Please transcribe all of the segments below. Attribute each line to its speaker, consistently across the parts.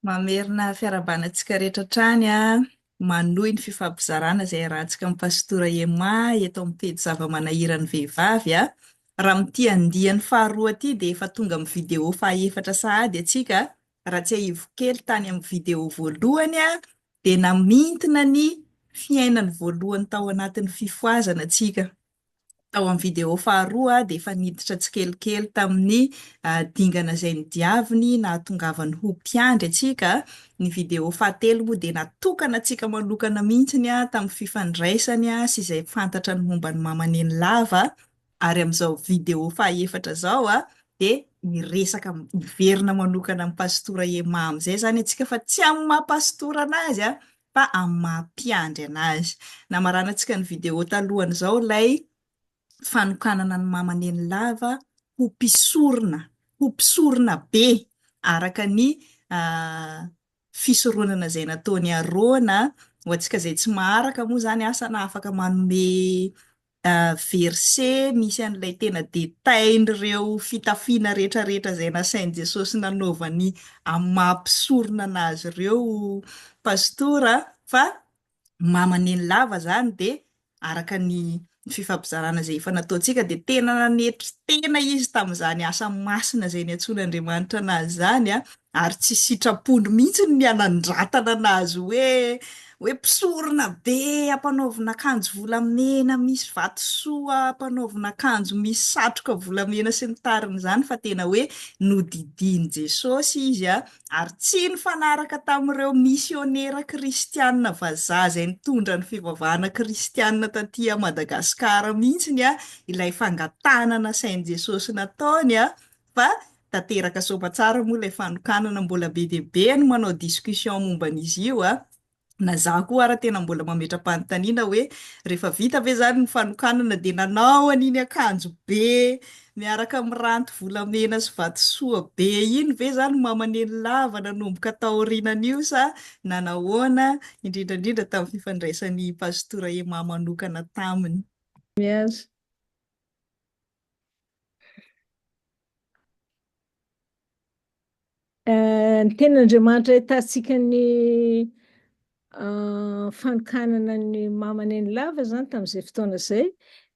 Speaker 1: Mamerina fiarahabana antsika rehetra hatrany an! Manohy ny fifampizarana izay iarahantsika amin'i Pastora Emma eto amin'ny pejy Zava-manahiran'ny vehivavy an! Raha amin'ity andiany faharoa ity dia efa tonga amin'ny video fahaefatra sahady antsika an! Raha tsiahivo kely tany amin'ny video voalohany an! dia namintina ny fiainany voalohany tao anatin'ny fifohazana tsika. Tao amin'ny video faharoa dia efa niditra tsikelikely tamin'ny dingana izay nodiaviny nahatongavany ho mpiandry antsika. Ny video fahatelo moa dia natokana antsika manokana mihitsy tamin'ny fifandraisany sy izay fantatra ny momba an'i Mama Nenilava. Ary amin'izao video fahaefatra izao dia hiresaka hiverina manokana amin'ny Pastora Emma amin'izay izany antsika fa tsy amin'ny maha Pastora an'azy fa amin'ny maha mpiandry an'azy. Namaranantsika ny video talohan'izao ilay fanokanana an'i Mama Nenilava ho mpisorona, ho mpisorona be araka ny fisoronana izay nataon'i Arona, ho antsika izay tsy maharaka moa izany asa na afaka manome verset misy an'ilay tena détail-n'ireo fitafiana rehetra rehetra izay nasain'i Jesosy nanaovany amin'ny maha mpisorona an'Azy ireo Pastora fa mamaneny lava izany dia araka ny fifampizarana izay efa nataontsika dia tena nanetry tena izy tamin'izany asa masina izay niantsoan'Andriamanitra an'Azy izany Ary tsy sitrapony mihitsy ny hanandratana anazy hoe hoe mpisorona be ampanaovina akanjo volamena misy vatosoa ampanaovina akanjo misy satroka volamena sy ny tariny izany fa tena hoe nodidian'i Jesosy izy a ary tsy nifanaraka tamin'ireo misionera kristianina vazaha izay nitondra ny fivavahana kristianina taty Madagascar mihitsy ny a ilay fangatahana nasain'i Jesosy nataony a fa tanteraka soa aman-tsara moa ilay fanokanana, mbola be dia be ny manao discussion momba an'izy io an! na za koa ara tena mbola mametra-panontaniana hoe rehefa vita ve zany ny fanokanana dia nanao an'iny akanjo be miaraka amin'ny ranty volamena sy vatosoa be iny ve zany mama nenilava nanomboka taorinan'io sa nanahoana, indrindra indrindra tamin'ny fifandraisan'i Pastora Emma manokana taminy. Miasa.
Speaker 2: Ny tenin'Andriamanitra ahitantsika ny fanokanana ny mama nenilava izany tamin'izay fotoana izay,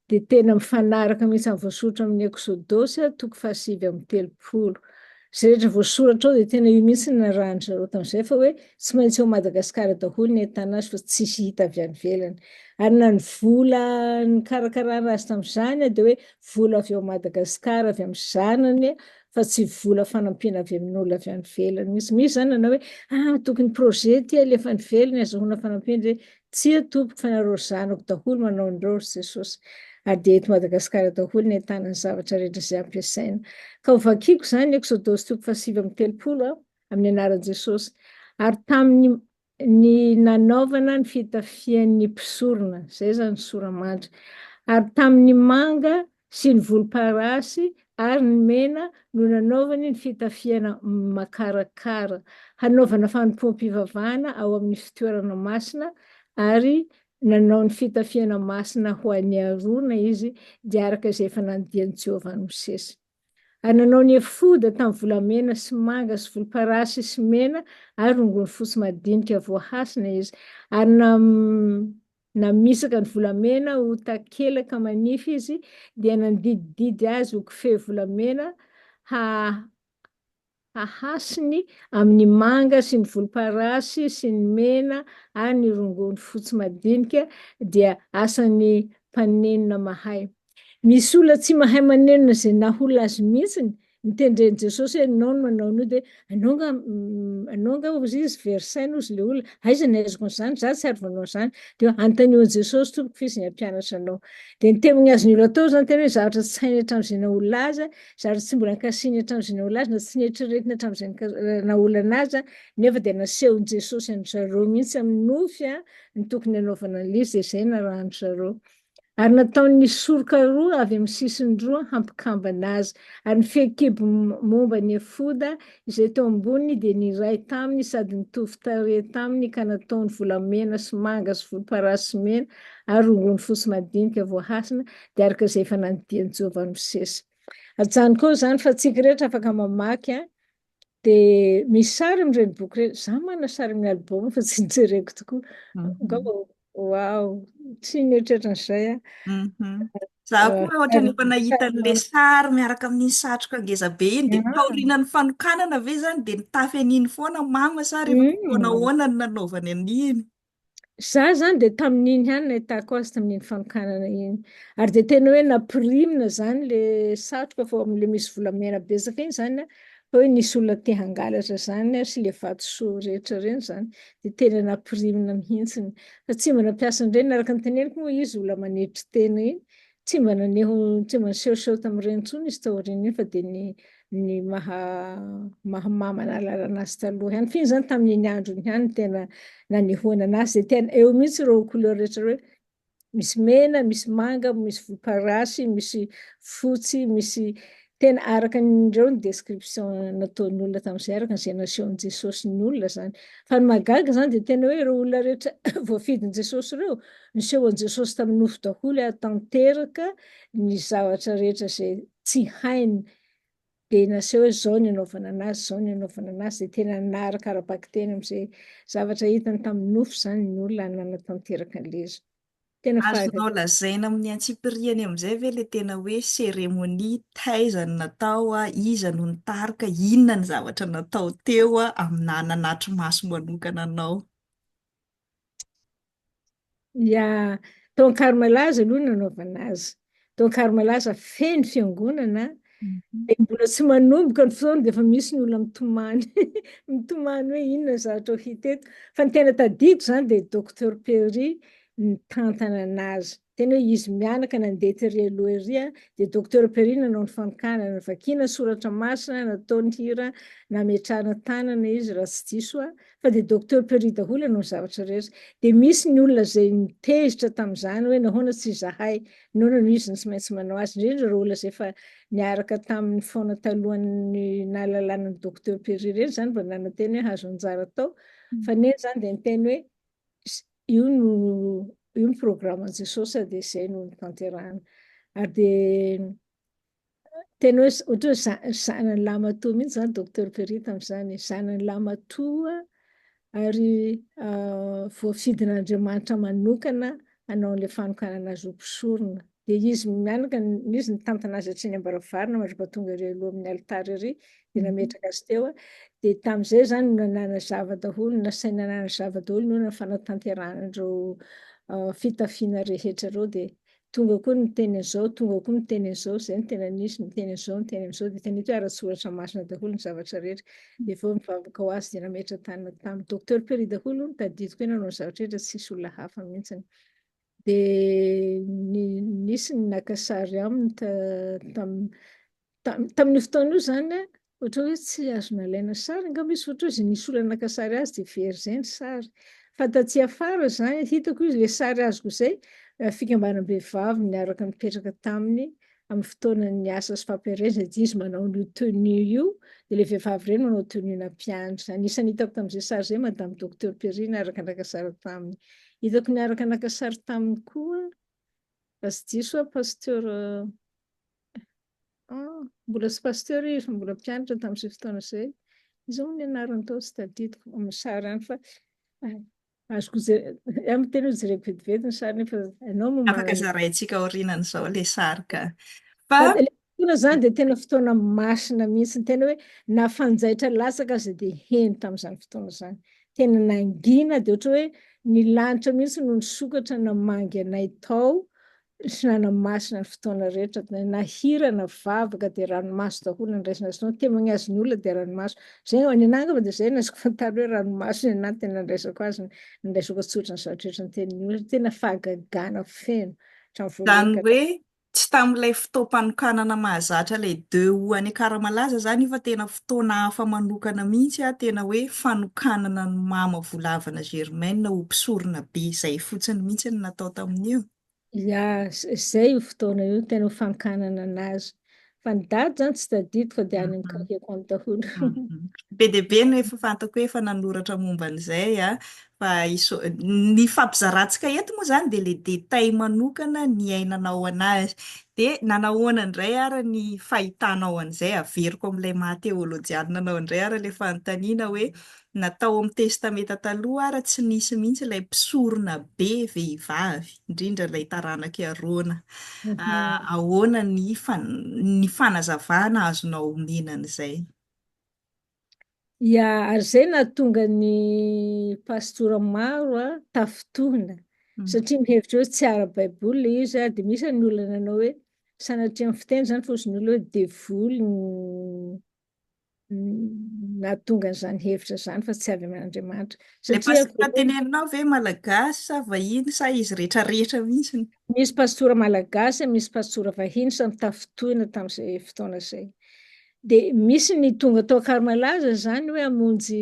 Speaker 2: dia tena mifanaraka mihitsy amin'ny voasoratra amin'ny Eksodosy toko fahasivy amby telopolo. Izay rehetra voasoratra ao dia tena io mihitsy no narahan-dry zareo tamin'izay fa hoe tsy maintsy ao Madagasikara daholo ny ahitana azy fa tsisy hita avy any ivelany. Ary na ny vola nikarakarana azy tamin'izany dia hoe vola avy ao Madagasikara avy amin'ny zanany fa tsy vola fanampiana avy amin'olona avy any ivelany mihitsy. Misy izany nanao hoe ah tokony projet ity alefa any ivelany azahoana fanampiana, dia Tsia tompoko fa nareo ry zanako daholo manao an'ireo ry Jesosy ary dia eto Madagasikara daholo ny ahitana ny zavatra rehetra izay ampiasaina. Ka ho vakiako izany Eksodosy toko fahasivy amby telopolo aho amin'ny anaran'i Jesosy. Ary tamin'ny ny nanaovana ny fitafian'ny mpisorona, izay izany ny sora-mandry. Ary tamin'ny manga sy ny volomparasy ary ny mena no nanaovany ny fitafiana makarakara, hanaovana fanompoam-pivavahana ao amin'ny fitoerana masina, ary nanao ny fitafiana masina ho an'i Arona izy, dia araka izay efa nandian'i Jehovah an'i Mosesy. Ary nanao ny efoda tamin'ny volamena sy manga sy volomparasy sy mena ary rongony fotsy madinika voahasina izy, ary na. Namisaka ny volamena ho takelaka manify izy, dia nandidididy azy ho kofehy volamena hahasiny amin' ny manga sy ny volomparasy sy ny mena ary ny rongony fotsy madinika, dia asan' ny mpaninona mahay. Misy olona tsy mahay manenina izay nahola azy mihitsy, nitendren'i Jesosy hoe ianao no manao an'io dia ianao nga ianao angaha hozy izy very saina hozy ilay olona, aiza ny aizako an'izany, izaho tsy ary nanao an'izany, dia anontaniho an'i Jesosy tompoko f'izy no hampianatra anao. Dia ny teny azo ny olona atao izany tena hoe zavatra tsy hainy hatramin'izay nahola azy, zavatra tsy mbola nikasihiny hatramin'izay nahola azy na tsy neritreretiny hatramin'izay naholana azy nefa dia nasehon'i Jesosy an-dry zareo mihitsy amin'ny nofy ny tokony hanaovana an'ilay izy dia izay narahan-dry zareo. Ary nataony ny soroka roa avy amin'ny sisiny roa hampikambana azy. Ary ny fehikibo momba ny efoda izay teo amboniny dia niray taminy sady nitovy tarehy taminy ka nataony volamena sy manga sy volomparasy sy mena ary rongony fotsy madinika voahasina dia araka izay efa nandidian'i Jehovah an'i Mosesy. Ajanoko eo izany fa tsy rehetra afaka mamaky Dia misy sary amin'ireny boky ireny. Izaho manana sary amin'ny album fa tsy nijereko tokoa. Angamba
Speaker 1: ho
Speaker 2: Wow, tsy mieritreritra an'izay aho. Mhm.
Speaker 1: Za koa ah, ohatrany efa nahita an'le sary miaraka
Speaker 2: amin'iny
Speaker 1: satroka ngeza be iny dia ah. taorianan'ny fanokanana
Speaker 2: ve
Speaker 1: zany dia nitafy an'iny foana mama sa rehefa fotoana mm. ahoana no nanaovany an'iny? Za
Speaker 2: zany dia tamin'iny ihany nahitako azy tamin'iny fanokanana iny. Ary dia tena hoe nampirimina zany le satroka fa le misy volamena betsaka iny zany fa hoe nisy olona te hangalatra zany ary sy le vatosoa rehetra reny zany dia tena nampirimina mihitsiny. Fa tsy mba nampiasa an'ireny araka ny teneniko moa izy olona manetry tena iny Tsy mba naneho, tsy mba nisehoseho tamin'ireny intsony izy tao aorian'iny fa dia ny ny maha maha mama nahalalana azy taloha ihany. F'iny izany tamin'iny andro iny ihany no tena nanehoana anazy dia tena eo mihitsy ireo couleur rehetra ireo hoe misy mena, misy manga, misy volomparasy, misy fotsy, misy Tena araka ny ireo ny description nataon'ny olona tamin'izay, araka an'izay nasehon'i Jesosy ny olona izany. Fa ny mahagaga izany dia tena hoe ireo olona rehetra voafidin'i Jesosy ireo, niseho an'i Jesosy tamin'ny nofo daholo ary tanteraka ny zavatra rehetra izay tsy hainy. Dia naseho hoe izao ny anaovana an'azy, izao ny anaovana an'azy, dia tena naharaka ara-bakiteny amin'izay zavatra hitany tamin'ny nofo izany ny olona ary nanatanteraka an'ilay izy. Tena faly. Azonao lazaina
Speaker 1: amin'ny
Speaker 2: antsipiriany
Speaker 1: amin'izay ve ilay tena hoe cérémonie, taiza no natao, iza no nitarika, inona ny zavatra natao teo aminà nanatri-maso manokana anao?
Speaker 2: Ya, tao Ankarimalahza aloha no nanaovana azy. Toa kary malaza feno fiangonana dia
Speaker 1: mbola tsy manomboka
Speaker 2: ny fotoana dia efa misy ny olona mitomany mitomany hoe inona ny zavatra ho hita eto. Fa ny tena tadidiko izany dia Docteur Perry nitantana an'azy. Tena hoe izy mianaka nandeha tery aloha ery dia Docteur Perry nanao ny fanokanana, navakiana ny soratra masina, nataony hira, nametrahana tanana izy raha tsy diso aho, Fa dia Docteur Perry daholo ianao ny zavatra rehetra. Dia misy ny olona izay nitezitra tamin'izany hoe nahoana tsy izahay, nahoana no izy no tsy maintsy manao azy, indrindra ireo olona izay efa niaraka taminy foana talohan'ny nahalalana an'i Docteur Perry ireny izany vao nanantena hoe hahazo anjara tao. Fa neny izany dia niteny hoe io no io ny programan'i Jesosy dia izay no notanterahana. Ary dia Tena hoe ohatra hoe za- zanan'i Lamatoa mihitsy izany Docteur Perry tamin'izany e. Zanan'i Lamatoa ary ah, voafidin'Andriamanitra manokana hanao an'ilay fanokanana azy ho mpisorona. Dia izy mianaka, n- izy nitantana azy atsy any am-baravarana mandritra tonga ery aloha amin'ny alitara ery, dia nametraka azy teo. a. Dia tamin'izay izany no nanazava daholo, nasaina nanazava daholo ny hoe ny fanatanterahana an'ireo ah, fitafiana rehetra ireo dia Tonga koa ny miteny an'izao, tonga koa ny miteny an'izao, izay no tena nisy, miteny an'izao, miteny an'izao, dia hitan'ito hoe ara-tsoratra masina daholo ny zavatra rehetra. Dia avy eo nivavaka ho azy dia nametra-tanana tamin'i Docteur Perry daholo, hono, tadidiko hoe nanao ny zavatra rehetra, tsy nisy olona hafa mihitsiny. Dia nisy ny naka sary aminy ta, tam, Tamin'io fotoana io izany, ohatra hoe tsy azo nalaina sary angamba izy, ohatra hoe izay nisy olona naka sary azy dia very izay ny sary. Fa taty afara izany, hitako izy, ilay sary azoko izay, fikambanam-behivavy niaraka nipetraka taminy amin'ny fotoanan'ny asa sy fampielezana, dia izy manao an'io tenue io, dia ilay vehivavy irery manao tenue-na mpiandry. Anisan'ny hitako tamin'izay sary izay Madame Docteur Perry niaraka naka sary taminy. Hitako niaraka naka sary taminy koa Aza diso aho Pasteur ah mbola tsy Pasteur izy mbola mpianatra tamin'izay fotoana izay, iza moa ny anarany tao tsy tadidiko amin'ny sary any fa azoko jerena, amin'ny tena jereko vetivety ny sary nefa ianao no manana. Afaka zaraintsika
Speaker 1: aorianan'izao ilay sary ka. Fa Fotoana izany
Speaker 2: dia tena fotoana masina mihitsy, tena hoe na fanjaitra latsaka aza dia heno tamin'izany fotoana izany. Tena nangina dia ohatra hoe ny lanitra mihitsy no nisokatra namangy anay tao, sy nanamasina ny fotoana rehetra, na hira na vavaka dia ranomaso daholo no andraisana azy itony, témoignage ny olona dia ranomaso, izay ho any anah angamba dia izay no azoko fantaro hoe ranomaso ny anah no tena andraisako azy, ny andraisako antsotra ny zavatra rehetra notenin'ny olona, tena fahagagana feno hatramin'ny voalohany ka hatramin'ny. Izany hoe Tsy tamin'ilay
Speaker 1: fotoam-panokanana mahazatra ilay deux août any Akaramalaza izany io fa tena fotoana hafa manokana mihitsy an, tena hoe fanokanana an'i Mama Volavana Germaine ho mpisorona be izay fotsiny mihitsy no natao tamin'io. Ya,
Speaker 2: izay io fotoana io no tena ho fankanana anazy. Fa ny dady zany tsy tadidiko fa dia any amin'ny cahier-ko any daholo.
Speaker 1: Be dia be no efa fantako
Speaker 2: hoe
Speaker 1: efa nanoratra momba an'izay an! Fa ny fampizarantsika eto moa izany dia ilay détail manokana niainanao an'azy. Dia nanahoana indray ary ny fahitanao an'izay? Averiko amin'ilay maha-teolojianina anao indray ary ilay fanontaniana hoe Na tao amin'ny Testamenta Taloha ara tsy nisy mihitsy ilay mpisorona be vehivavy, indrindra ilay taranak'i Arona.
Speaker 2: Ahoana ny
Speaker 1: ny fanazavana azonao omena an'izay?
Speaker 2: Ia, ary izay nahatonga ny pastora maro tafintohina, satria
Speaker 1: mihevitra hoe tsy
Speaker 2: ara-baiboly ilay izy, dia misy ny olona nanao hoe, sanatria ny fiteny izany, fa hoy izy ny olona hoe devoly ny nahatonga an'izany hevitra izany fa tsy avy amin'Andriamanitra. Ilay pastora
Speaker 1: tenenanao
Speaker 2: ve
Speaker 1: malagasy sa vahiny sa izy rehetra rehetra mihitsy? Misy pastora
Speaker 2: malagasy, misy pastora vahiny, samy tafintohina tamin'izay fotoana izay. Dia misy ny tonga tao Ankaro Malaza izany hoe hamonjy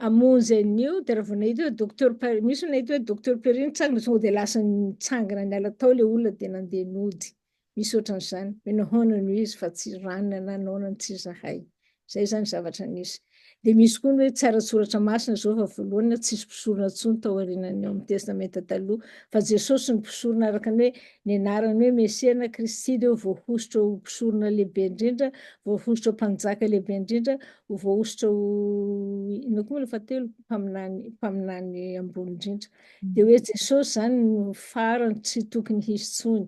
Speaker 2: Hamonjy an'io dia raha vao nahita hoe docteur Paris, misy no nahita hoe docteur Paris nitsangana tonga dia lasa nitsangana niala tao ilay olona dia nandeha nody. Misy ohatran'izany, hoe nahoana no izy fa tsy ranona na nahoana no tsy izahay. Izay izany zavatra nisy. Dia misy koa ny hoe tsy ara-tsoratra masina izao fa voalohany tsisy mpisorona intsony tao aorianan'ny ao amin'ny Testamenta Taloha fa Jesosy no mpisorona araka ny hoe ny anarany hoe Mesia na Kristy dia voahosotra ho mpisorona lehibe indrindra, voahosotra ho mpanjaka lehibe indrindra, ho voahosotra ho inona koa moa ilay fahatelo mpaminany mpaminany ambony indrindra dia hoe Jesosy izany no farany tsy tokony hisy tsony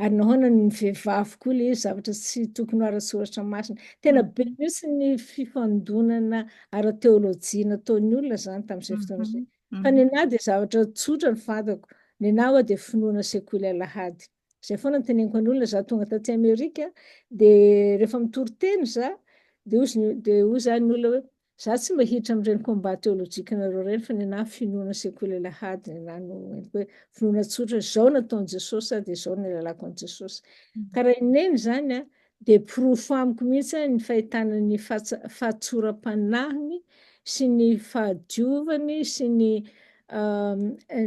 Speaker 2: ary nahoana ny vehivavy koa ilay zavatra tsy tokony ho ara-tsoratra masina tena be mihitsy ny fifandonana ara-teolojia nataon'ny olona izany tamin'izay fotoana izay fa ny anah
Speaker 1: dia
Speaker 2: zavatra tsotra ny fantako ny anah dia finoana sekoly alahady Zay foana no teneniko an'olona za tonga taty Amerika de rehefa mitory teny za de hozy ny de hoy za ny olona hoe za tsy mba hiditra amin'ireny combat teolojikanareo ireny fa nenaha finoana sekoly alahady nenaha no entiko hoe finoana tsotra zao nataon'i Jesosy za de zao no nilalako an'i Jesosy. Ka raha ineny zany a Dia porofo amiko mihitsy ny fahitana ny fahatsoram-panahiny sy ny fahadiovany sy ny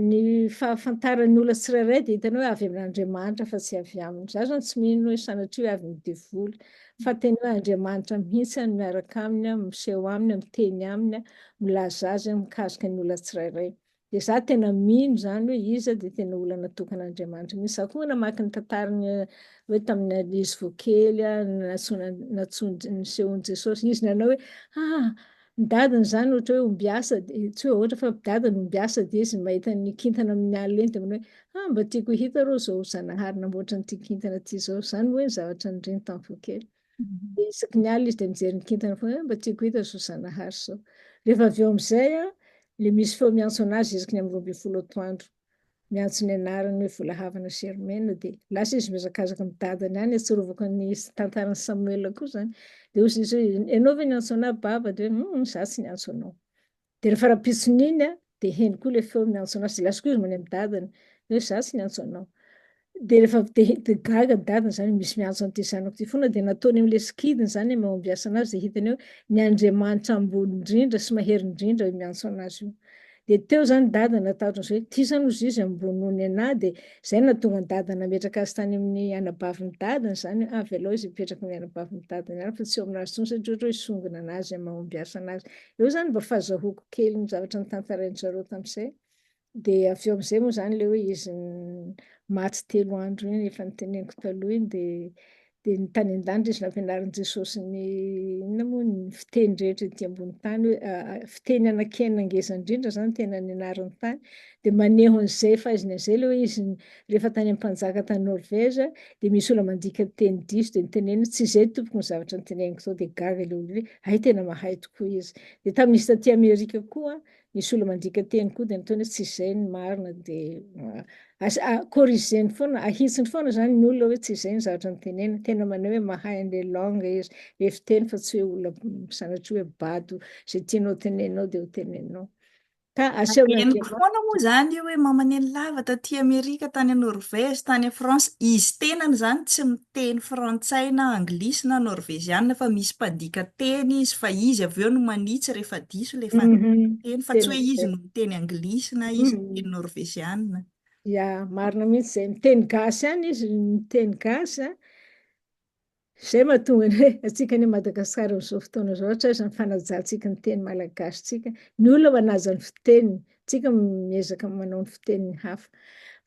Speaker 2: ny fahafantaran'ny olona tsirairay dia hitany hoe avy amin'Andriamanitra fa tsy avy aminy. Za zany tsy mino hoe sanatria hoe avy amin'ny devoly fa tena hoe Andriamanitra mihitsy no miaraka aminy, miseho aminy, miteny aminy, milaza azy mikasika ny olona tsirairay. Dia za tena mino izany hoe iza dia tena olana tokana Andriamanitra mihitsy. Za koa namaky ny tantaran'ny hoe tamin'ny ankizy vao kely nantsoina nisehoan'i Jesosy izy nanao hoe ah ny dadany izany ohatra hoe ombiasa dia tsy hoe ohatra fa dadany ombiasa dia izy mahita ny kintana amin'ny alina iny dia manao hoe ah mba tiako hita rô izao zanahary namboatra an'ity kintana ity izao. Izany hoe ny zavatra niriny tamin'ny vao kely. Dia isaky
Speaker 1: ny alina izy dia
Speaker 2: mijery ny kintana foana, eh, mba tiako hita izao Zanahary izao. Rehefa avy eo amin'izay an, ilay misy feo miantso an'azy isaky ny amin'ny roa ambin'ny folo atoandro. Miantso ny anarany hoe Volahavana Germaine dia lasa izy mihazakazaka amin'ny dadany any, ahatsiarovako ny tantaran'i Samuel koa izany. Dia hoy izy hoe, ianao ve niantso an'ahy Baba? Dia hoe, humm, izaho tsy niantso anao. Dia rehefa rahampitson' iny an, dia heno koa ilay feo miantso an' azy, dia lasa koa izy mandeha amin'ny dadany, hoe izaho tsy niantso anao. Dia rehefa avy dia dia gaga ny dadany izany hoe misy miantso an'ity zanako ity foana, dia nataony amin'ilay sikidiny izany ny mahombiasa an'azy, dia hitany hoe ny Andriamanitra ambony indrindra sy mahery indrindra io miantso an'azy io. Dia teo izany ny dadany natahotra an'izay hoe ity izany hozy izy ambony noho ny anah, dia izay no nahatonga ny dadany nametraka azy tany amin'ny anabavin'ny dadany izany hoe avy alao izy hipetraka amin'ny anabavin'ny dadany any fa tsy eo amin'azy intsony satria ohatra hoe hisongona an'azy amin'ny mahombiasa an'azy. Eo zany mba fazahoako kely ny zavatra notantarain-dry zareo tamin'izay, dia avy eo amin'izay moa zany ilay hoe izy maty telo andro iny efa noteneniko taloha iny dia dia ny tany an-danitra izy nampianarin'i Jesosy ny inona moa ny fiteny rehetra ety ambony tany hoe fiteny anakiana ngeza indrindra zany tena nianariny tany dia maneho an'izay fahaiziny an'izay ilay hoe izy Rehefa tany amin'ny mpanjaka tany Norvège dia misy olona mandika ny teny diso dia niteneniny tsy izay tompoko ny zavatra niteneniko zao dia gaga ilay olona hoe hay tena mahay tokoa izy. Dia tamin'izy taty Amerika koa nisy olona mandika teny koa dia nataony hoe tsy izay ny marina dia corrigeny foana ahitsiny foana zany ny olona hoe tsy izay ny zavatra niteneniny. Tena maneho hoe mahay an'ilay langue izy ilay fiteny fa tsy hoe olona sanatria hoe bado izay tianao teneninao dia ho teneninao. Ka asehon'ny Andriamanitra. Henoko foana
Speaker 1: moa izany io
Speaker 2: hoe
Speaker 1: mamaneno lava taty Amerika, tany Norvège, tany France, izy tenany izany tsy miteny frantsay na anglisy na norvezianina fa misy mpandika teny izy fa izy avy eo no manitsy rehefa diso ilay fandikana teny fa tsy hoe izy no miteny
Speaker 2: anglisy
Speaker 1: na izy no miteny norvezianina. Ya,
Speaker 2: marina mihitsy izay. Miteny gasy ihany izy, miteny gasy an. Izay mahatonga ny hoe antsika any Madagasikara amin'izao fotoana izao, ohatra aza ny fanajantsika ny teny malagasintsika, ny olona manaja ny fiteniny, isika miezaka manao ny fitenin'ny hafa.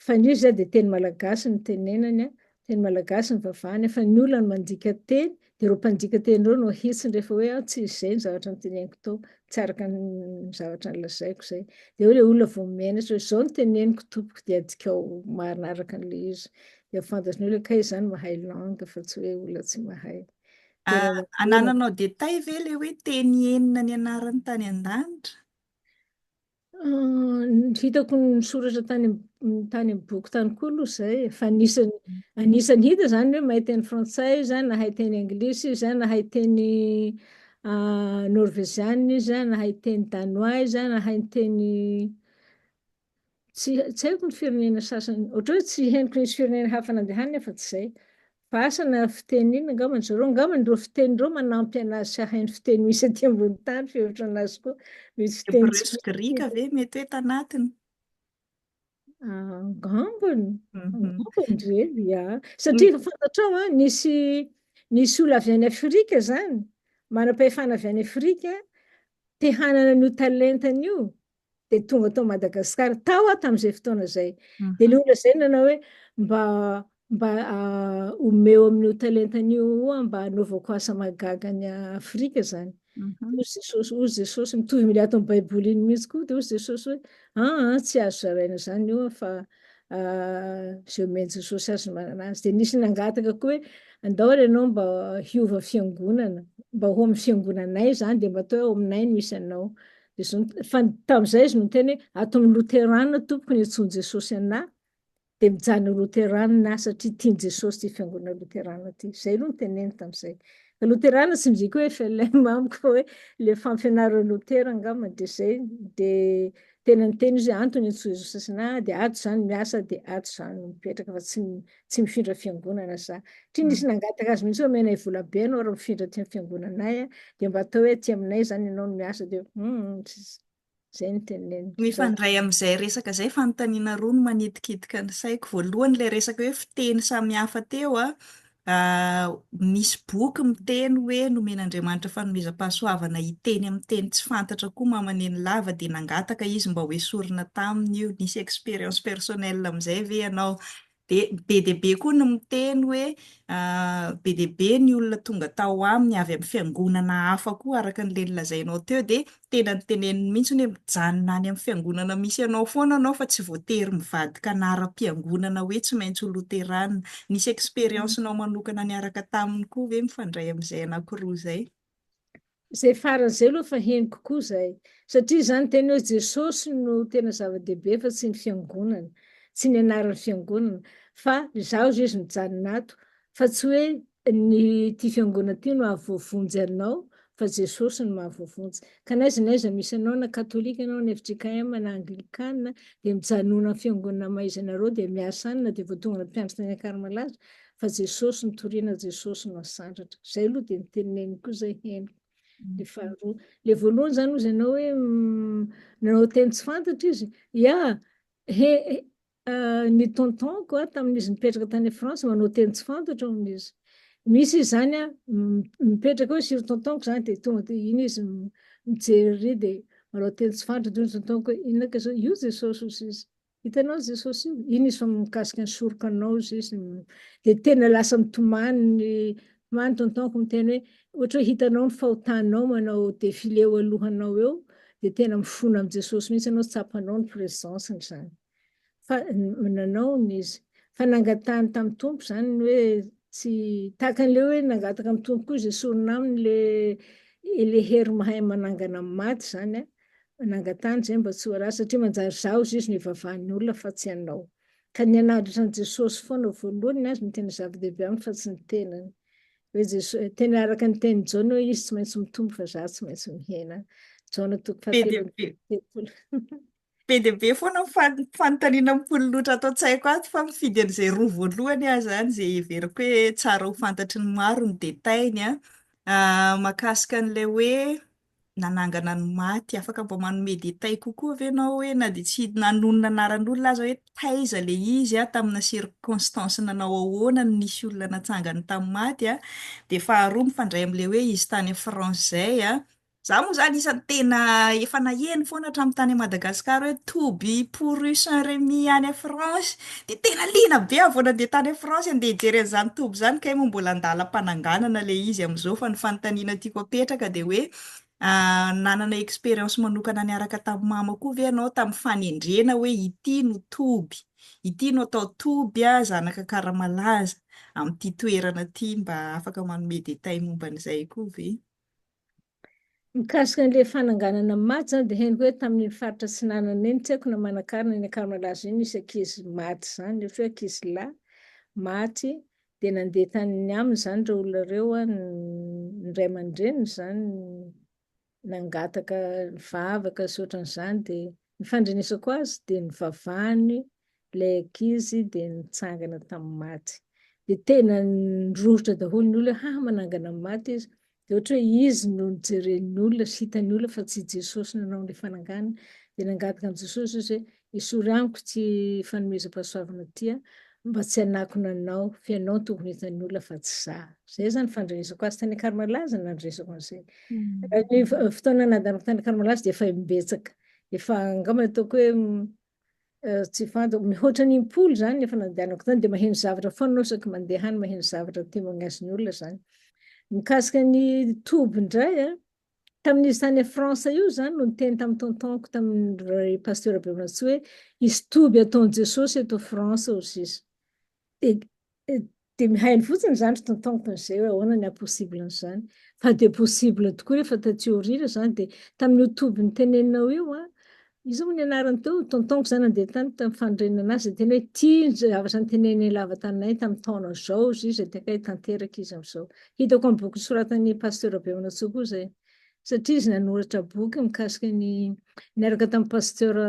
Speaker 2: Fa ny izy izany dia teny malagasy no tenenany, teny malagasy no vavahany, fa ny olona no mandika teny, dia ireo mpandika teny ireo no ahitsiny rehefa hoe aho tsy izay ny zavatra noteneniko tao, tsy araka ny zavatra nolazaiko izay. Dia eo ilay olona vao menatra hoe izao no teneniko tompoko dia adikao marina araka an'ilay izy. Dia fantatry ny olona kay izany mahay langue fa tsy hoe olona tsy mahay. Ah, anananao détail ve
Speaker 1: le hoe teny enina ny anarany tany an-danitra? Ah,
Speaker 2: ny hitako ny soratra tany am- tany amin'ny boky tany koa aloha izay e. fa anisany anisany hita izany hoe mahay teny frantsay izy a, nahay teny anglisy izy a, nahay teny ah, norveziana izy a, nahay teny danois izy a, nahay ny teny Tsy tsy haiko ny firenena sasany, ohatra hoe tsy henoko nisy firenena hafa nandehaniny aho fa tsy izay. Fa asa na fiteny inona angamba zareo, angambany ireo fiteny ireo manampy anazy tsy hahay ny fiteny misy aty ambony tany, fihevitra anazy koa. Misy fiteny Hebreo tsy sy grika ve
Speaker 1: mety hoe tanatiny?
Speaker 2: Angambany, Mhm. angambany
Speaker 1: re, ia.
Speaker 2: Satria efa fantatrao
Speaker 1: an,
Speaker 2: nisy nisy olona avy any Afrika izany, manam-pahefana avy any Afrika, te hanana an'io talentany io, dia tonga tao Madagasikara, tao aho tamin'izay fotoana izay. Dia ilay olona izay nanao hoe mba mba omeo amin'io talentany io oa mba anaovako asa mahagaga ny Afrika izany. Hoy Jesosy,
Speaker 1: hoy Jesosy
Speaker 2: mitovy amin'ilay ato amin'ny Baiboly iny mihitsy koa, dia hoy Jesosy hoe aa tsy azo zaraina izany io fa izay omen'i Jesosy azy no manana azy. Dia nisy nangataka koa hoe andao ary ianao mba hiova fiangonana, mba ho amin'ny fiangonanay izany dia mba atao hoe ao aminay no misy anao. Fa tamin'izay izy no niteny hoe, Ato amin'ny Loteranina tompoko ny antsoin'i Jesosy anà, dia mijanona ho Loteranina aho satria tian'i Jesosy ity Fiangonana Loteranina ity. Izay aloha no teneniny tamin'izay. Fa Loteranina tsy midika hoe FLM amiko fa hoe ilay fampianaran'i Lotera angambany, dia izay. Dia tena niteny izy hoe, Antony antsoin'i Jesosy anà, dia ato izany miasa, dia ato izany mipetraka, fa tsy tsy mifindra fiangonana za. Try nisy nangataka azy mihitsy hoe omena i vola be anao raha mifindra aty amin'ny fiangonanay a, dia mba atao hoe aty aminay izany ianao no miasa dia hum tsy izay no teneniny. Mifandray amin'izay
Speaker 1: resaka izay fanontaniana roa no manitikitika ny saiko. Voalohany ilay resaka hoe fiteny samihafa teo a, misy boky miteny hoe nomen'Andriamanitra fanomezam-pahasoavana hiteny amin'ny teny tsy fantatra koa mamaneny lava dia nangataka izy mba hoesorina taminy io, nisy expérience personnelle amin'izay ve ianao? dia be dia be koa ny miteny hoe be dia be ny olona tonga tao aminy avy amin'ny fiangonana hafa koa araka an'ilay nolazainao teo dia tena ny teneniny mihitsy hoe mijanona any amin'ny fiangonana misy anao foana anao fa tsy voatery mivadika anaram-piangonana hoe tsy maintsy ho loterana. Nisy expérience-nao manokana niaraka taminy koa ve mifandray amin'izay anankiroa izay? Izay
Speaker 2: farany izay aloha efa henoko koa izay. Satria izany teny hoe Jesosy no tena zava-dehibe fa tsy ny fiangonana, tsy ny anaran'ny fiangonana. Fa izaho izao izy mijanona ato, fa tsy hoe ny ity fiangonana ity no hahavoavonjy anao, fa Jesosy no mahavoavonjy. Ka n'aiza n'aiza misy anao, na katolika ianao, na fjkm, na anglikana, dia mijanona amin'ny fiangonana maha-izy anareo, dia miasa any na dia vao tonga any mpiandry tany Ankarimalaza, fa Jesosy nitoriana Jesosy no asandratra zay aloha dia ny teneniny koa zay henoko le faharoa le voalohany zany ozy ianao hoe nanao teny tsy fantatra izy ya he ny tontonko a tamin'izy nipetraka tany France manao teny tsy fantatra ao amin'izy misy izy zany a mipetraka hoe siry tontonko zany dia tonga dia iny izy mijery dia manao teny tsy fantatra tontonko hoe inona ka zao io Jesosy ozy izy Hitanao Jesosy io? Iny izy fa mikasika ny soroka anao izy izy dia tena lasa mitomany ny tomany tontonko miteny hoe ohatra hoe hitanao ny fahotanao manao défilé eo alohanao eo dia tena mifona amin'i Jesosy mihitsy ianao tsapanao ny présence-ny izany fa nanao ny izy fa nangatahany tamin'ny Tompo izany ny hoe tsy tahaka an'ilay hoe nangataka amin'ny Tompo koa izy esorina aminy ilay ilay hery mahay manangana amin'ny maty izany a Nangatany zay mba tsy ho ratsy satria manjary za ozy izy no ivavahan'ny olona fa tsy anao. Ka ny anadritra an'i Jesosy foana voalohany ny azy no tena zava-dehibe aminy fa tsy ny tenany. Hoe Jesosy, tena araka ny tenin'i Jaona hoe izy tsy maintsy mitombo fa za tsy maintsy mihena. Jaona toko fahatelo
Speaker 1: Be dia be foana ny fan- fanontaniana mipololotra ato an-tsaiko ato fa mifidy an'izay roa voalohany aho izany izay heveriko hoe tsara ho fantatry ny maro ny détail-ny an. Ah, mahakasika an'ilay hoe nanangana ny maty, afaka mba manome détails kokoa ve ianao hoe na dia tsy nanonona anaran'olona aza hoe taiza ilay izy an, tamina circonstances nanao ahoana no nisy olona natsangany tamin'ny maty an, dia faharoa mifandray amin'ilay hoe izy tany France izay an, za moa izany isan'ny tena efa naheno foana hatramin'ny tany Madagascar hoe to be pour Saint Remy any France, Dia tena liana be aho vao nandeha tany France handeha hijery an'izany toby izany kay moa mbola an-dalam-pananganana ilay izy amin'izao fa ny fanontaniana tiako apetraka dia hoe nanana expérience manokana niaraka tamin'i mama koa ve ianao tamin'ny fanendrena hoe ity no toby, ity no atao toby zanaka Akaramalaza amin'ity toerana ity mba afaka manome détails momba an'izay koa ve? Mikasika
Speaker 2: an'ilay fananganana ny maty izany dia henoko hoe tamin'iny faritra atsinanana iny, tsy haiko na manankarina any Ankaramalaza iny, nisy ankizy maty izany, ohatra hoe ankizy lahy maty dia nandeha tany aminy izany ireo olona ireo, ny ray aman-dreniny izany nangataka nivavaka sy ohatran'izany dia Ny fandrenesako azy dia nivavahany ilay ankizy dia nitsangana tamin'ny maty. Dia tena nirohotra daholo ny olona hoe ha manangana ny maty izy. Dia ohatra hoe izy no nijeren'ny olona sy hitan'ny olona fa tsy i Jesosy nanao ilay fananganana. Dia nangataka an'i Jesosy izy hoe esory amiko ity fanomezam-pahasoavana ity an! Mba tsy hanakona anao, fa ianao no tokony hitan'ny olona fa tsy za. Izay izany fandrenesako azy tany Karmalaza nandresako an'izay. Ny fotoana nandanako tany Karmalaza dia efa imbetsaka. Efa angamba ataoko hoe tsy fantako, mihoatra ny impolo izany efa nandehanako tany dia maheno zavatra foana aho isaky mandeha any, maheno zavatra témoignage-ny olona izany. Mikasika ny toby indray, Tamin'io tany France io izany no niteny tamin'ny tonton-ko tamin'ny Pasteur Behonatsiho hoe hisy toby ataon'i Jesosy eto France hoy sisa. Dia dia mihaino fotsiny izany ry tonton-ko ohatran'izay hoe ahoana ny haha-possible an'izany. Fa dia possible tokoa rehefa taty aoriana izany dia tamin'io toby niteneninao io an, Izy io moa ny anarany teo, tontoniko izany nandeha tany tamin'ny fanorenana azy, dia tena hoe tia ny zavatra noteneninay lava taminay tamin'ny taona izao izy io, izay dia akaiky tanteraka izy amin'izao. Hitako amin'ny boky nosoratan'i Pasteur Bemanantsoa koa izay, satria izy nanoratra boky mikasika ny, niaraka tamin'i Pasteur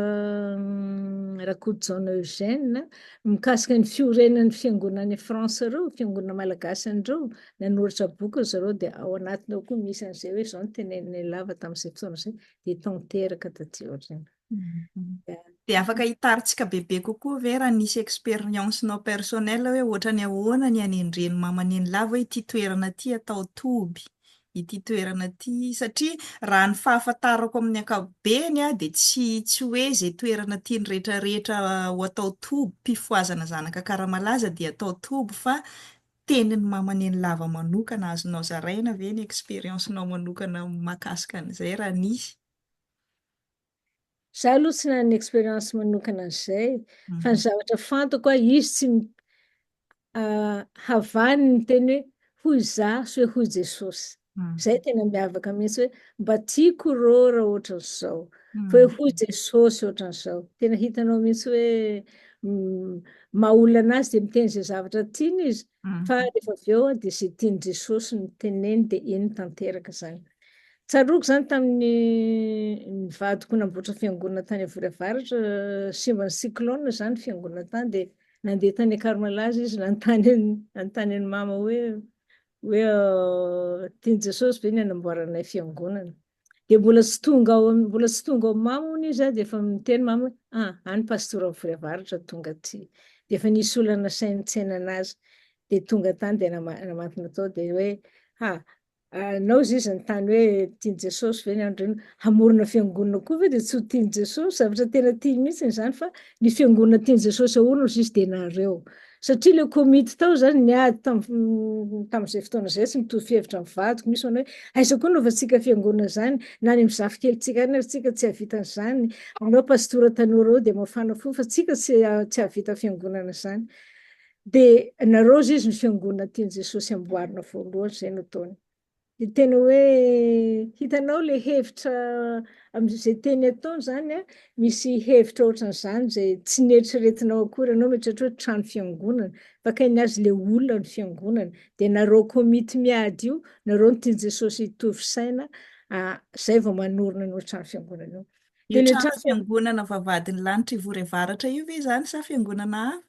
Speaker 2: Rakotojaona Eugène, mikasika ny fiorenan'ny fiangonana any France ireo, fiangonana malagasy an'ireo, nanoratra boky ry zareo, dia ao anatiny ao koa misy an'izay hoe izao no teneninay lava tamin'izay fotoana izay. dia tanteraka taty aoriana.
Speaker 1: Dia afaka hitarintsika bebe kokoa ve raha nisy expérience-nao personnelle hoe ohatrany ahoana ny hanendren'i mama an'inilahy ve ity toerana ity atao toby, ity toerana ity, satria raha ny fahafantarako amin'ny ankapobeny dia tsy tsy hoe izay toerana tiany rehetrarehetra ho atao toby, mpifohazana zanaka Akaramalaza dia atao toby fa tenin'i mama nenilava manokana azonao zaraina ve ny experience nao manokana makasika an'izay raha nisy?
Speaker 2: Za aloha tsy nanana experience manokana an'izay fa ny zavatra fantako aho izy tsy havaniny ny teny hoe hoy za sy hoe hoy Jesosy. Zay tena miavaka mihitsy hoe mba tiako rô raha ohatran'izao. Fa hoe hoy Jesosy ohatran'izao. Tena hitanao mihitsy hoe maha olona anazy dia miteny izay zavatra tiany izy fa rehefa avy eo dia izay tian'i Jesosy no teneniny dia iny tanteraka izany. Tsaroako izany tamin'ny ny vadiko namboatra fiangonana tany Avory Avaratra, simban'ny cyclone izany fiangonana tany dia nandeha tany Akaromalaza izy nanontany an'i Mama hoe Hoe tian'i Jesosy ve ny hanamboaranay fiangonana? Dia mbola tsy tonga ao mbola tsy tonga ao mamo hono izy dia efa miteny mamo hoe ah any pastora mivory avaratra tonga aty. Dia efa nisy olona nasainy nitsena anazy dia tonga tany dia namantona tao dia hoe ha anao izy izy nitany hoe tian'i Jesosy ve ny andro hamorona fiangonana koa ve dia tsy ho tian'i Jesosy zavatra tena tiany mihitsy izany fa ny fiangonana tian'i Jesosy ahorina izy dia nareo. Satria ilay komity tao izany niady tamin'ny tamin'izay fotoana izay, tsy mitovy fihevitra amin'ny vadiko, misy manao hoe aiza koa anaovantsika fiangonana izany, na any amin'ny zafikelintsika any ary tsika tsy hahavita an'izany, aleo pastora tanora ao dia mafana fo fa tsika tsy tsy hahavita fiangonana izany. Dia nareo hozy izy ny fiangonana tian'i Jesosy amboarina voalohany, izay no ataony. Dia tena hoe hitanao ilay hevitra amin'izay teny ataony izany a, misy hevitra ohatran'izany izay tsy neritreretinao akory, ianao mieritreritra hoe trano fiangonana, bakain'ny azy ilay olona ny fiangonana, dia nareo komity miady io, nareo ny tian'i Jesosy hitovy saina, izay vao manorina an'io trano fiangonana io. Io trano
Speaker 1: fiangonana vavahadin'ny lanitra ivory avaratra io ve izany sa fiangonana hafa?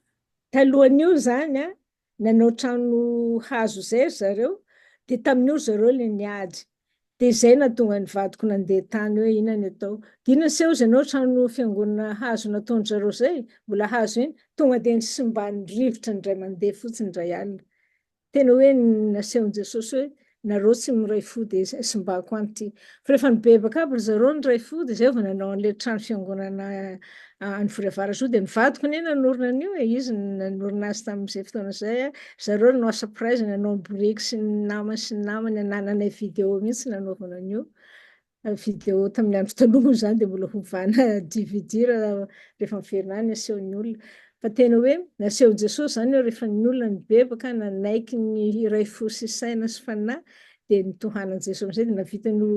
Speaker 1: Talohan'io
Speaker 2: izany a, Nanao trano hazo izay ry zareo, dia tamin'io ry zareo ilay niady. Dia izay nahatonga ny vadiko nandeha tany hoe inona ny atao. Dia inona se hozy ianao trano fiangonana hazo nataon-dry zareo izay, mbola hazo iny, tonga dia nisimban'ny rivotra indray mandeha fotsiny indray alina. Tena hoe nasehon'i Jesosy hoe Nareo tsy miray fo dia izay simbako any ity. Fa rehefa nibebaka aby ry zareo niray fo dia izay vao nanao an'ilay trano fiangonana any Vory Avarasoa dia ny vadiko anie nanorina an'io e, izy no nanorina azy tamin'izay fotoana izay a, ry zareo no nanao surprise nanao ny boriky sy ny namany sy ny namany nananay video mihitsy nanaovana an'io vidéo tamin'ny andro taloha moa izany dia mbola hovana dvd raha rehefa miverina any asehon'ny olona fa tena hoe nasehon'i Jesosy izany hoe rehefa ny olona nibebaka nanaiky ny hiray fo sy saina sy fanahy dia nitohanan'i Jesosy amin'izay dia navita ny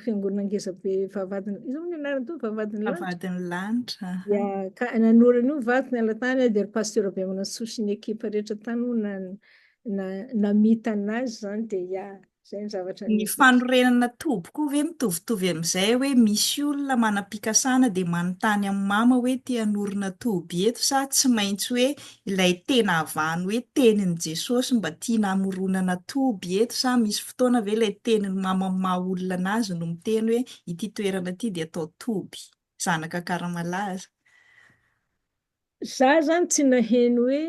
Speaker 2: fiangonana ngeza be vavahadin'ny iza moa ny anarany toa vavahadin'ny lanitra vavahadin'ny lanitra
Speaker 1: ya ka
Speaker 2: nanora an'io vato niala tany dia ry pasteur Bemanantsoa sy ny ekipa rehetra tany moa na namita anazy izany dia ya Ny fanorenana
Speaker 1: toby koa ve mitovitovy amin'izay hoe misy olona manam-pikasana dia manontany amin'i Mama hoe te hanorina toby eto sa tsy maintsy hoe ilay tena avahan'ny hoe tenin'i Jesosy mba tiana hamoronana toby eto sa misy fotoana ve ilay tenin'i Mama maha olona anazy no miteny hoe ity toerana ity dia atao toby? Zanaka Akaramalaza.
Speaker 2: Za zany tsy naheno hoe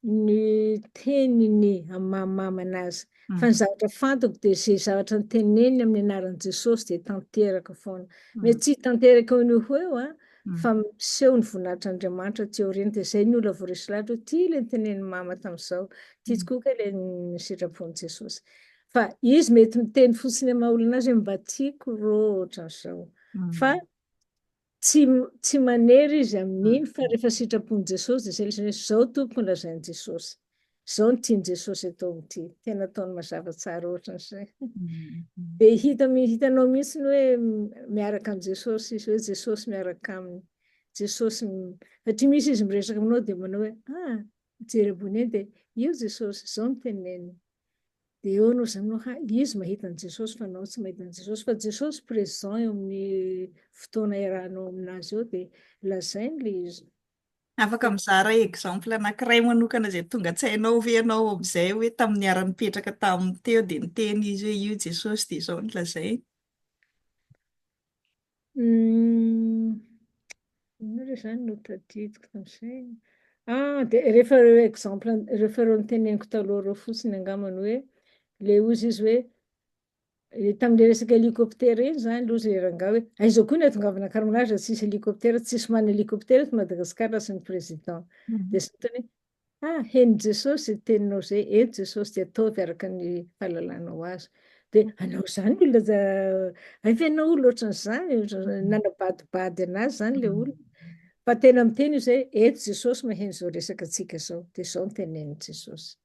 Speaker 2: ny teniny amin'ny maha mama anazy fa ny zavatra fantako dia ze zavatra niteneniny amin'ny anaran'i Jesosy dia tanteraka foana. Mety tsy hitanteraka eo no ho eo an, fa miseho ny voninahitr'Andriamanitra aty aoriana dia zay ny olona voaresy lahatra hoe ty ilay nitenenin'i mama tamin'izao, ty tokoa kay ilay ny sitrapon'i Jesosy. Fa izy mety miteny fotsiny amin'ny maha olona anazy hoe mba tiako rô ohatran'izao. Fa Tsy tsy manery izy amin'iny fa rehefa sitrapon'i Jesosy dia izay lesona hoe izao tompoko ny lazain'i Jesosy. Izao ny tian'i Jesosy atao amin'ity. Tena ataony mazava tsara ohatran'izay. Dia hita hitanao mihitsy ny hoe miaraka amin'i Jesosy izy hoe Jesosy miaraka aminy. Jesosy satria misy izy miresaka aminao dia manao hoe ah mijery ambony eny dia io Jesosy izao ny teneniny. Dia eo anao izany hoe izy mahita an'i Jesosy fa anao tsy mahita an'i Jesosy. Fa Jesosy présent eo amin'ny fotoana iarahanao aminazy eo dia lazainy ilay izy. Afaka
Speaker 1: mizara exemple anankiray manokana izay tonga an-tsainao ve ianao amin'izay hoe tamin'ny niara-nipetraka taminy teo dia niteny izy hoe io Jesosy dia izao no lazainy?
Speaker 2: Inona re zany no tadidiko tamin'izay? Ah, dia rehefa ireo exemple, rehefa ireo niteneniko taloha ireo fotsiny angamba ny hoe, le ozy izy hoe, eh, tamin'ilay resaka hélicoptère iny zany aloha zay rangahy hoe, aiza koa ny atongavana Ankaramalaza tsisy hélicoptère, tsisy manana hélicoptère eto Madagasikara raha tsy ny président. Mhm. Dia zany tena hoe, Ha! Henon'i Jesosy izay teninao izay, eny Jesosy dia ataovy araka ny fahalalanao azy. Dia hanao izany ny olona, hay ve ianao olona ohatran'izany, nanabadibady an'azy izany ilay olona. Fa tena miteny izy hoe, eto Jesosy maheno izao resaka antsika izao, dia izao no tenenin'i Jesosy.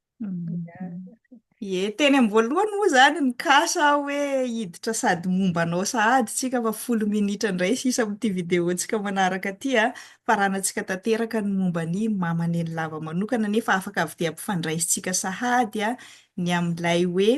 Speaker 2: Ie,
Speaker 1: teny amin'ny voalohany moa izany nikasa aho hoe hiditra sady momba anao sahady tsika fa folo minitra indray sisa amin'ity video-ntsika manaraka ity a! Faranantsika tanteraka ny momba an'i Mama Nenilava manokana nefa afaka avy dia ampifandraisintsika sahady ny amin'ilay hoe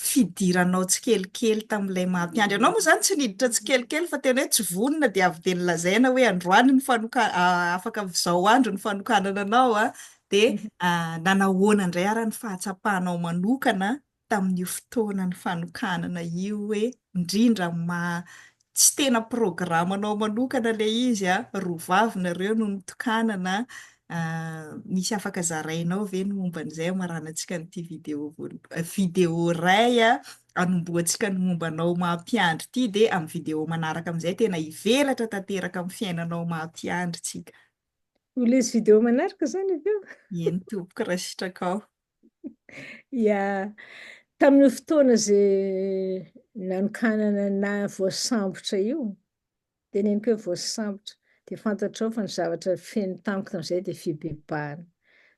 Speaker 1: fidiranao tsikelikely tamin'ilay maha-mpiandry anao moa izany tsy niditra tsikelikely fa tena hoe tsy vonona dia avy dia nolazaina hoe androany ny fanoka- ah, afaka izao andro ny fanokanana anao a, dia ah, nanahoana indray ara ny fahatsapanao manokana tamin'io fotoana ny fanokanana io hoe indrindra maha Tsy tena programanao manokana ilay izy a, roa vavy nareo no nitokanana a, misy afaka zarainao ve ny momba an'izay hamaranantsika an'ity video voalohany, video iray a, anombohantsika ny momba anao maha mpiandry ity dia amin'ny video manaraka amin'izay tena hivelatra tanteraka amin'ny fiainanao maha mpiandry tsika. Ho lesy
Speaker 2: video manaraka izany avy eo. Eny tompoko
Speaker 1: raha sitrakao.
Speaker 2: Ia, tamin'io fotoana izay nanokanana na voasambotra io, teneniko hoe voasambotra, dia fantatrao fa ny zavatra feno tamiko tamin'izay dia fibebahana,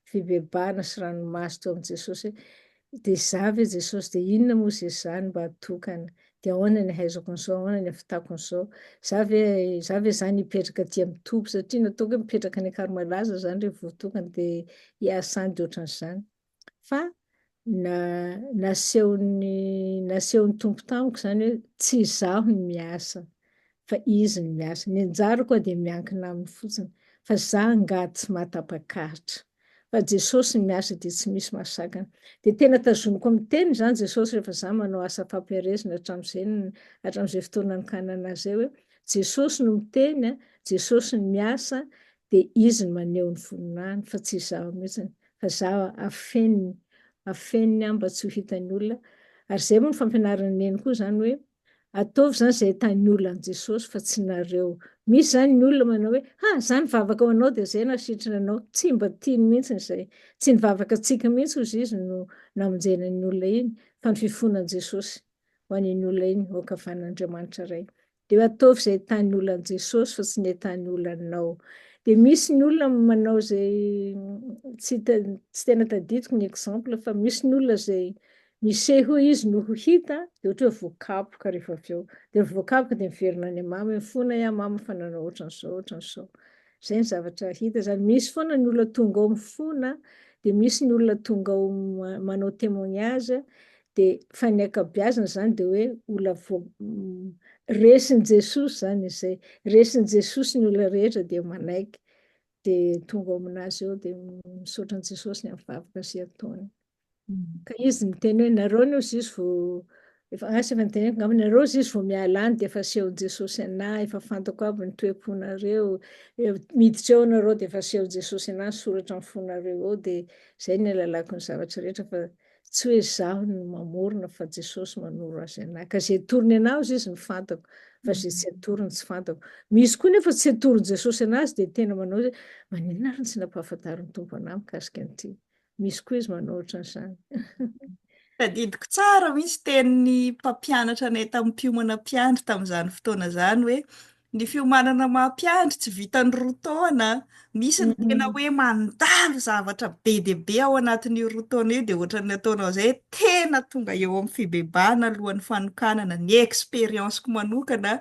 Speaker 2: fibebahana sy ranomaso teo amin'i Jesosy hoe dia izaho ve Jesosy, dia inona moa izay izany mba atokana? Dia ahoana ny ahaizako an'izao, ahoana ny ahavitako an'izao? Za ve, za ve zany hipetraka aty amin'ny toby, satria nataoko hoe mipetraka any Ankarmalaza zany re vao tokana dia hiasa any dia ohatran'izany. Fa na, nasehon'ny, nasehon'ny Tompo tamiko zany hoe tsy izaho no miasa fa Izy no miasa. Ny anjarako dia miankina Aminy fotsiny, fa za angaha tsy mahatapak'Atra. fa Jesosy ny miasa dia tsy misy mahasakana. Dia tena tazomiko amin'ny teny izany Jesosy rehefa za manao asa fampiharezana hatramin'izay hatramin'izay fotoana nikahanana ahy izay hoe Jesosy no miteny a, Jesosy no miasa dia Izy no maneho ny voninahiny fa tsy izaho mihitsiny fa za afeniny afeniny aho mba tsy ho hitan'ny olona ary izay moa ny fampianaran'i Neny koa izany hoe Ataovy izany izay hitahin'ny olona an'i Jesosy fa tsy nareo. Misy izany ny olona manao hoe, ha, izany nivavaka ho anao dia izay nasitrana anao. Tsy mba tiany mihitsy izay. Tsy ny vavakantsika mihitsy hozy izy no namonjena iny olona iny, fa ny fifohana an'i Jesosy ho an'iny olona iny ho ankavan'Andriamanitra Ray. Dia ataovy izay hitahin'ny olona an'i Jesosy fa tsy ny hitahin'ny olona anao. Dia misy ny olona manao izay, tsy tena tadidiko ny exemple, fa misy ny olona izay Niseho izy no ho hita, dia ohatra hoe voakapoka rehefa avy eo. Dia ny voakapoka dia miverina any amama hoe mifona i amama fa nanao ohatran'izao, ohatran'izao. Izay ny zavatra hita izany. Misy foana ny olona tonga ao mifona, dia misy ny olona tonga ao manao témoignage, dia fa ny ankabeazany izany dia hoe olona resin'i Jesosy izany izay. Resin'i Jesosy ny olona rehetra dia manaiky, dia tonga ao amin'azy ao dia misaotra an'i Jesosy ny amin'ny vavaka sy ataony. Ka izy miteny hoe, nareo anie hozizy vao, efa asa efa noteneniko angamba, nareo hozizy vao miala any dia efa asehon'i Jesosy anah, efa fantako aby ny toe-ponareo, miditra eo nareo dia efa asehon'i Jesosy anah ny soratra amin'ny fonareo eo, dia zay no alalako ny zavatra rehetra fa tsy hoe zaho no mamorona fa Jesosy manoro azy anah, ka zay atorony anah hozizy no fantako, fa zay tsy atorony tsy fantako, misy koa nefa tsy atoron'i Jesosy anah azy dia tena manao hoe, maninona ary no tsy nampahafantarin'ny Tompo anah mikasika an'ity? Misy koa izy manao ohatran'izany.
Speaker 1: Tadidiko tsara mihitsy tenin'ny mpampianatra anay tamin'ny mpiomana mpiandry tamin'izany fotoana izany hoe ny fiomanana maha-mpiandry tsy vitan'ny roa taona. Misy ny tena hoe mandalo zavatra be dia be ao anatin'io roa taona io dia ohatran'ny ataonao izay tena tonga eo amin'ny fibebahana alohan'ny fanokanana. Ny expérience-ko manokana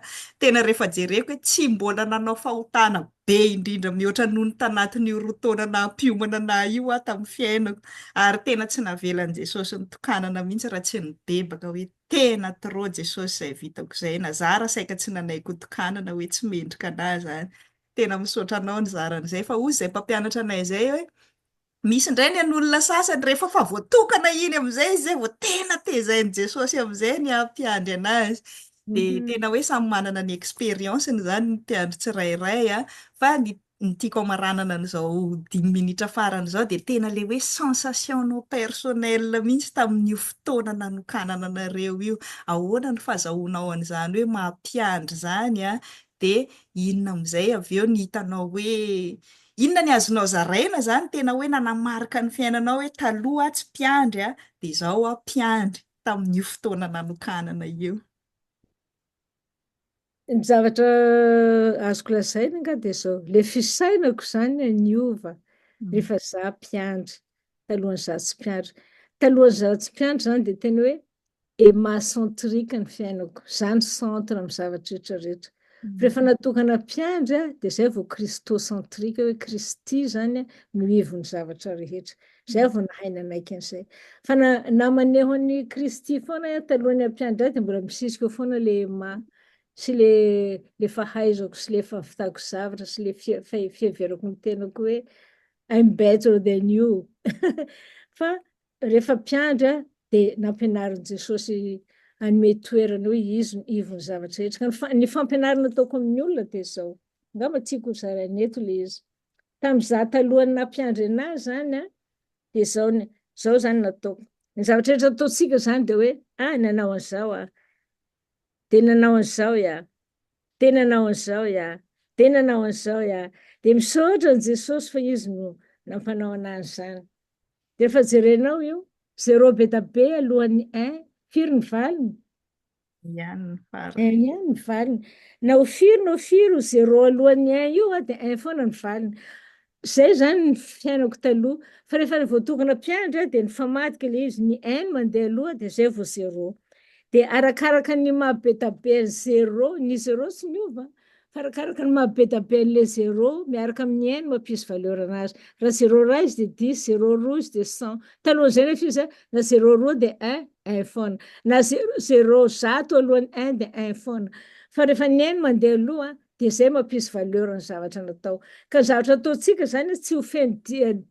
Speaker 1: tena rehefa jereko hoe tsy mbola nanao fahotana Be indrindra mihoatra noho ny tanatin'io roa taona naha-mpiomana nahy io aho tamin'ny fiainako. Ary tena tsy navelan'i Jesosy nitokanana mihitsy raha tsy nibebaka hoe tena trop Jesosy izay vitako izay. Na za ara saika tsy nanaiky ho tokanana hoe tsy mendrika anah izany. Tena misaotra anao nizara an'izay fa hozy izay mpampianatra anay izay hoe Misy indray ny an'olona sasany rehefa fa voatokana iny amin'izay izy zay vao tena tezain'i Jesosy amin'izay ny hampiandry anazy. Dia mhm. tena hoe samy manana ny expérience-ny izany ny mpiandry tsirairay a. Fa ny ny tiako amaranana an'izao dimy minitra farany izao dia tena ilay hoe sensation-nao personnel mihitsy tamin'io fotoana nanokanana anareo io. Ahoana ny fazahoanao an'izany hoe mampiandry izany an? dia inona amin'izay avy eo ny hitanao hoe inona ny azonao zaraina zany tena hoe nanamarika ny fiainanao hoe taloha aho tsy mpiandry a, dia izao aho mpiandry tamin'io fotoana nanokanana io.
Speaker 2: Ny zavatra azoko lazaina nga dia izao, ilay fisainako izany a niova mm. rehefa za mpiandry talohan'izaho tsy mpiandry. Talohan'izaho tsy mpiandry izany dia tena hoe Emma centrique ny fiainako, za ny centre am zavatra rehetra rehetra, rehefa natokana mpiandry aho de zay vao christocentrique hoe kristy zany no ivon'ny zavatra rehetra, zay aho vao nahay nanaiky an'izay, fa na na maneho an'i kristy foana aho talohan'ny hampiandry ahy de mbola misisika eo foana le Emma sy le le fahaizako sy le fahavitako zavatra sy le fia- fiheverako ny tenako hoe I'm better than you fa Rehefa mpiandry aho, dia nampianarin'i Jesosy hanome toerana hoe Izy no ivon'ny zavatra rehetra. Ka ny ny fampianarana ataoko amin'ny olona dia izao, angamba tiako ho zaraina eto ilay izy. Tamin'ny izaho talohan'ny nampiandry an'ahy izany an, dia izao ny, izao izany no nataoko. Ny zavatra rehetra ataontsika izany dia hoe, ah, nanao an'izao aho, dia nanao an'izao ia, dia nanao an'izao ia, dia nanao an'izao ia. Dia misaotra an'i Jesosy fa Izy no nampanao an'ahy an'izany. Defa jerenao io, zero be da be alohan'ny un, firy ny valiny? Un ihany
Speaker 1: ny valiny. Un ihany ny valiny.
Speaker 2: Na ho firy na ho firy ho zero alohan'ny un io a, dia un foana ny valiny. Zay zany ny fiainako taloha. Fa refa voatokana mpiandry aho dia nifamadika le izy, ny un mandeha aloha dia zay vao zero. Dia arakaraka ny maha be da be an'i zero, ny zero tsy miova an. Fa arakaraka ny maha be da be an'ilay zéro, miaraka amin'ny un no mampisy valeur anazy. Raha zéro iray izy dia dix, zéro roa izy dia cent. Talohan'izay nefa izy na zéro roa dia un, un foana. Na zéro, zéro zato alohan'ny un dia un foana. Fa rehefa ny un no mandeha aloha dia izay no mampisy valeur ny zavatra natao. Ka ny zavatra ataontsika izany tsy ho feno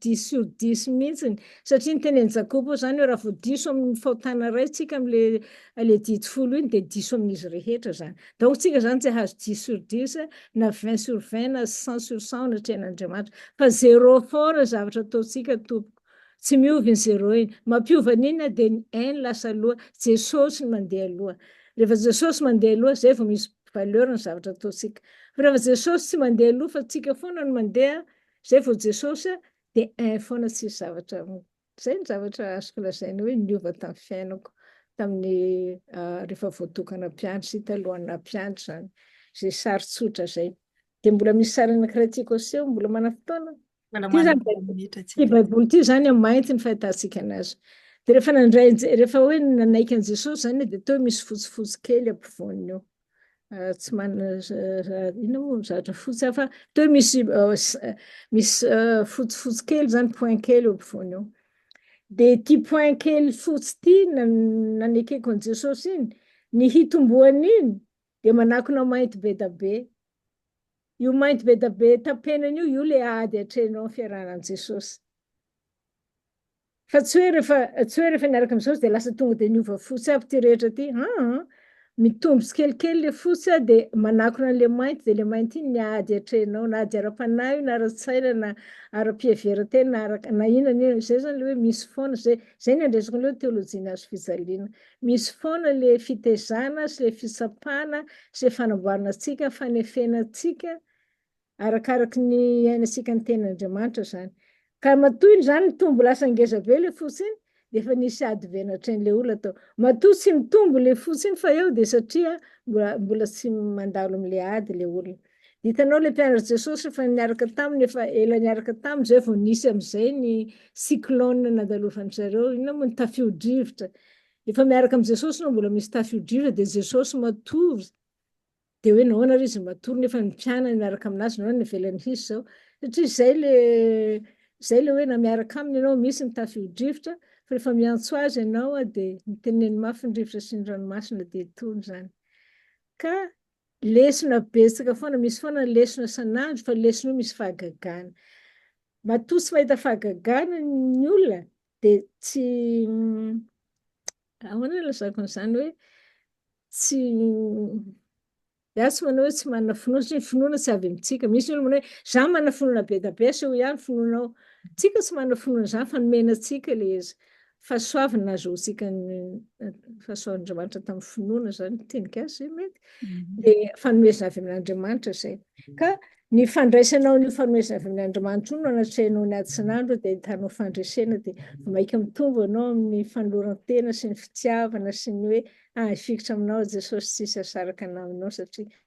Speaker 2: dix sur dix mihitsy satria ny tenin'i Jakoba izany hoe raha vao diso amin'ny fahotana iray isika amin'ilay didy folo iny dia diso amin'izy rehetra izany. Daotsika izany tsy hahazo dix sur dix na vingt sur vingt na cent sur cent ao anatrehan' Andriamanitra fa zero fort ny zavatra ataontsika tompoko tsy miova iny zero iny mampiova ny inona dia ny un lasa aloha Jesosy no mandeha aloha rehefa Jesosy mandeha aloha izay vao misy valeur ny zavatra ataontsika fa rehefa Jesosy tsy mandeha aloha fa tsika foana no mandeha izay vao Jesosy dia un foana tsisy zavatra Izay ny zavatra azoko lazaina hoe niova tamin'ny fiainako tamin'ny rehefa voatokana mpiandry sy talohan'ny naha mpiandry izany. Izay sary tsotra izay. Dia mbola misy sary anankiray tiako aseho, mbola manana fotoana?
Speaker 1: Ity
Speaker 2: Baiboly
Speaker 1: ity izany
Speaker 2: an,
Speaker 1: mainty
Speaker 2: ny fahitantsika anazy. Dia rehefa nandray, rehefa hoe nanaiky an'i Jesosy izany dia toa misy fotsifotsy kely ampovoany eo. ah, tsy manana inona moa ny zavatra fotsy hafa teo misy ah, ah, misy fotsifotsy kely zany point kely eo ampovoany eo dia ity point kely fotsy ity nanekeko an'i jesosy iny ny hitomboan'iny dia manakona mainty be da be io mainty be da be tapenana io io le ady atrehinao ny fiarahanan'i jesosy Fa tsy hoe rehefa tsy hoe rehefa niaraka amin'ny Jesosy dia lasa tonga dia niova fotsy aby ity rehetra ity aa! Mitombo tsikelikely ilay fotsy a, dia manakona an'ilay mainty, dia ilay mainty iny ny ady atrehinao, na ady ara-panahy io na ara-tsaina na ara-piheverantena na ara, na inona na inona, izay izany ilay hoe misy foana, izay izay ny andraisako an'ilay hoe teolojian'ny hazo fijaliana. Misy foana ilay fitaizana sy ilay fitsapana sy ilay fanamboarana antsika, fanefena antsika, arakaraky ny iainantsika ny tenin'Andriamanitra izany. Ka matoa izany mitombo lasa ngeza be ilay fo tsiny, dia efa nisy ady be natrehin'ilay olona tao. Matoa tsy mitombo ilay fo tsiny fa eo dia satria mbola mbola tsy mandalo amin'ilay ady ilay olona. Dia hitanao ilay mpianatr'i Jesosy efa niaraka taminy efa ela niaraka taminy izay vao nisy amin'izay ny cyclone nandalovan-dry zareo, inona moa ny tafiodrivotra. Efa miaraka amin'i Jesosy no mbola misy tafiodrivotra dia Jesosy matory. Dia hoe nahoana ary izy matory nefa ny mpianany miaraka amin'azy, nahoana no ivelany hisy izao? Satria izay le, izay ilay hoe na miaraka aminy ianao misy ny tafiodrivotra, fa rehefa miantso azy ianao dia miteneneny mafy ny rivotra sy ny ranomasina dia tony izany. Ka lesona betsaka foana, misy foana ny lesona isan'andro, fa lesona io misy fahagagana. Matoa tsy mahita fahagagana ny olona, Dia tsy, ahoana no ilazako an'izany hoe, tsy, izaho tsy manao hoe tsy manana finoana, satria ny finoana tsy avy amintsika. Misy ny olona manao hoe, izaho manana finoana be dia be, asehoy ahy ny finoanao. Tsika tsy manana finoana izany fa nomena antsika ilay izy. Fahasoavana nahazoantsika ny fahasoavan'Andriamanitra tamin'ny finoana izany no tenikasa ve mety? Dia fanomezana avy amin'Andriamanitra izay. Ka. Ny fandraisanao an'io fanomezavn' Andrimanitra io no anatrehanao ny Atsinandro dia ahitanao fandresena dia vao mainka mitombo ianao amin'ny fanoloran-tena sy ny fitiavana sy ny hoe hahay fikitra aminao aho Jesosy tsy hisy asaraka naminao satria